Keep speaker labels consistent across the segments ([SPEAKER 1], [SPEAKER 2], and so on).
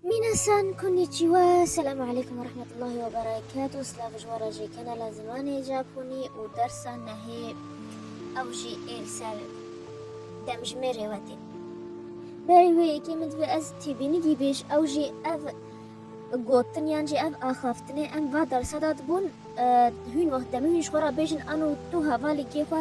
[SPEAKER 1] Minasan konnichiwa, selamu aleykum ve rahmetullahi ve berekatuh, silav ji wara jê kanala zimanê Japonî û dersa nehê ew jî êr ser demjimêrê we tê. Berî wê yekê min divê ez têbînigî bêj ew jî ev gotin yan jî ev axaftinê em va dersa da dibûn hûn wext demî hûn ji xwe re bêjin an û tu hevalê kê xwe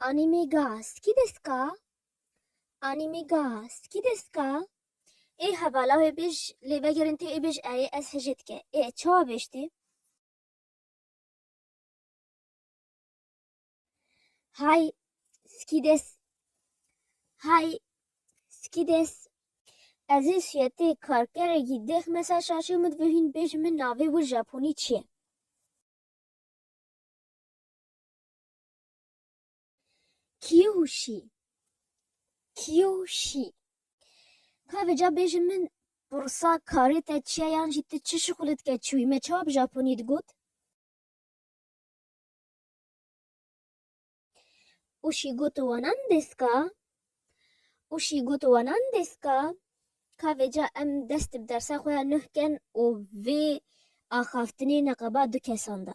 [SPEAKER 1] Anime ga skî dest ka? Anime ga skî dest ka? Ê hevala wê bêj lê vegerin tê ê bêj erê ez hijê dike. Ê ez çawa bêj tê? Hay skî dest Hay skî dest Ez ê siyetê karkerekî dêx me ser şaşê min ve hîn bêj min navê wir Japonî çi ye? Kîyoşî, kîyoşî. Ka vêca bêjin min pirsa karê te çi ye yan jî tu çi şixulê dike çi wî? Me çawa bi japonî digot? Oşî got wa nan desu ka? Oşî got wa nan desu ka? Ka vêca em dest bi dersa xwe ya nuh ken û vê axaftinê neqeba du kesan de.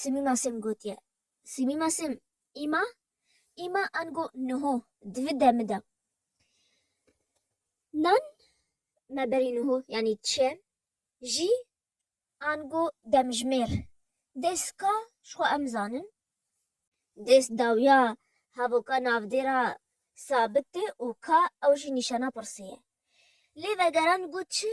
[SPEAKER 1] Simî Masim gotiye. Simî Masim, Îma? Îma ango niho di vi demi de nan me berî niho yanî çi jî ango demjimêr dês ka ji xwe em zanin. Dês dawiya havoka navdêra sabit tê û ka ew jî nîşana pirsê ye. Lê vegeran got çi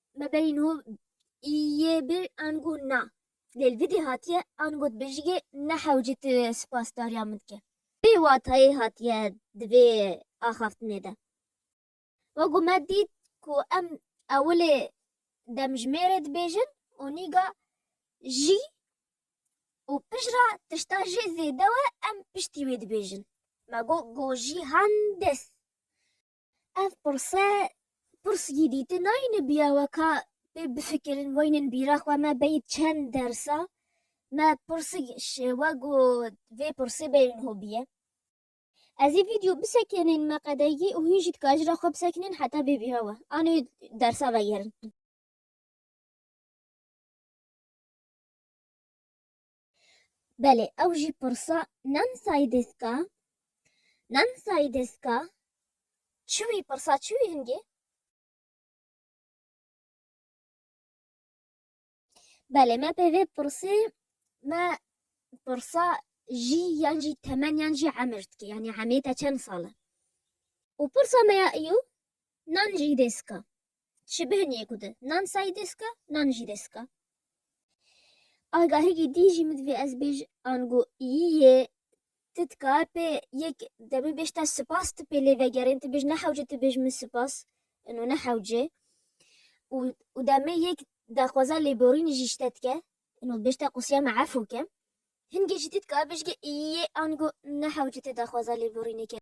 [SPEAKER 1] Me berîn ho yê bi an got na. Lê li vidê hatiye an got bi jigê ne hewcê tu spasdariya min dike. Vê watayê hatiye di vê axaftinê de. Wa ku me dît ku em ewilê demjimêrê dibêjin û nîga jî û pijra tişta jê zêde we em piştî wê dibêjin. Me got gojî handes. Ev pirse pirs jî dîtin nayîne biya weka pê bifikirin weynên bîra xwe me beyî çend dersa me pirsik şêwe ku vê pirsê beyrên hobiye. Ez ê vîdyo bisekinên me qedegî û hûn jî dika ji re xwe bisekinên heta bê bîra we anê dersa vegerin. Belê ew jî pirsa Nan Saidêska Nan Saidêska çi wî pirsa çi wî hingê? Belê me pê vê pirsê me pirsa jî yan jî temen yan jî emir dike yanî emê te çend sal e? Û pirsa me ya îyo Nan Jîdêska Ji bihiniyê ku di nan sayî dê sika, nan jî dê sika. Agahîgî dî jî min divê ez bêj ango yî yê ti dikar pê yek demê bêj te sipas ti pê lê vegerên ti bêj ne hewce ti bêj min sipas ino ne hewce û û demê yek daxwaza lêborînê jî ji te dike ino bêj te qûsiya me efû ke. Hingê jî dît ka bijge yê ango ne hewce tê daxwaza lêborîneke.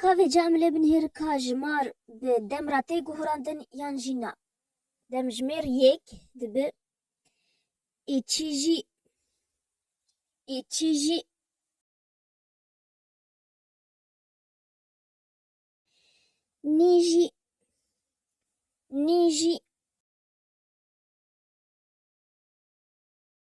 [SPEAKER 1] Ka vê camile binihêr ka ji mar bi dem re tê guhurandin yan jî na. Demjimêr yêk dibe ê çî jî ê çî jî. Nî jî nî jî.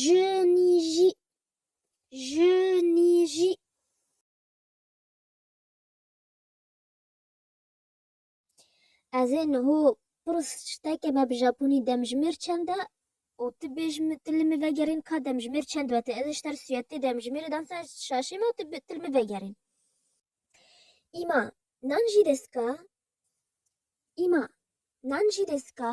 [SPEAKER 1] Jinîjî, jinîjî. Ez ê niho pirs tiştekê me bi Japonî demjimêr çend e û tu bêj min tu li min vegerîn ka demjimêr çend wete. Ez ê ji te re sûyetê demjimêrê dan ser şaşê me û tu tu li min vegerîn. Îma, nanjî desu ka? Îma, nanjî desu ka?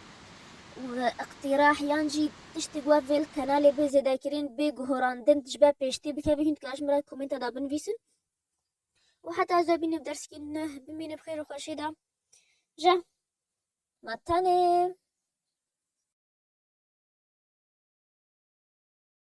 [SPEAKER 1] û îqtîrah yan jî tiştî ku ev vê li kanalê bê zêdekirîn, bê guhorandin ji ber pêş tê bikeve hîn dikarin ji min re di komenta de binivîsin û heta ez bimînim di dersîkê nû ne bimîne bi xêr û xweşî de ja ma tenê.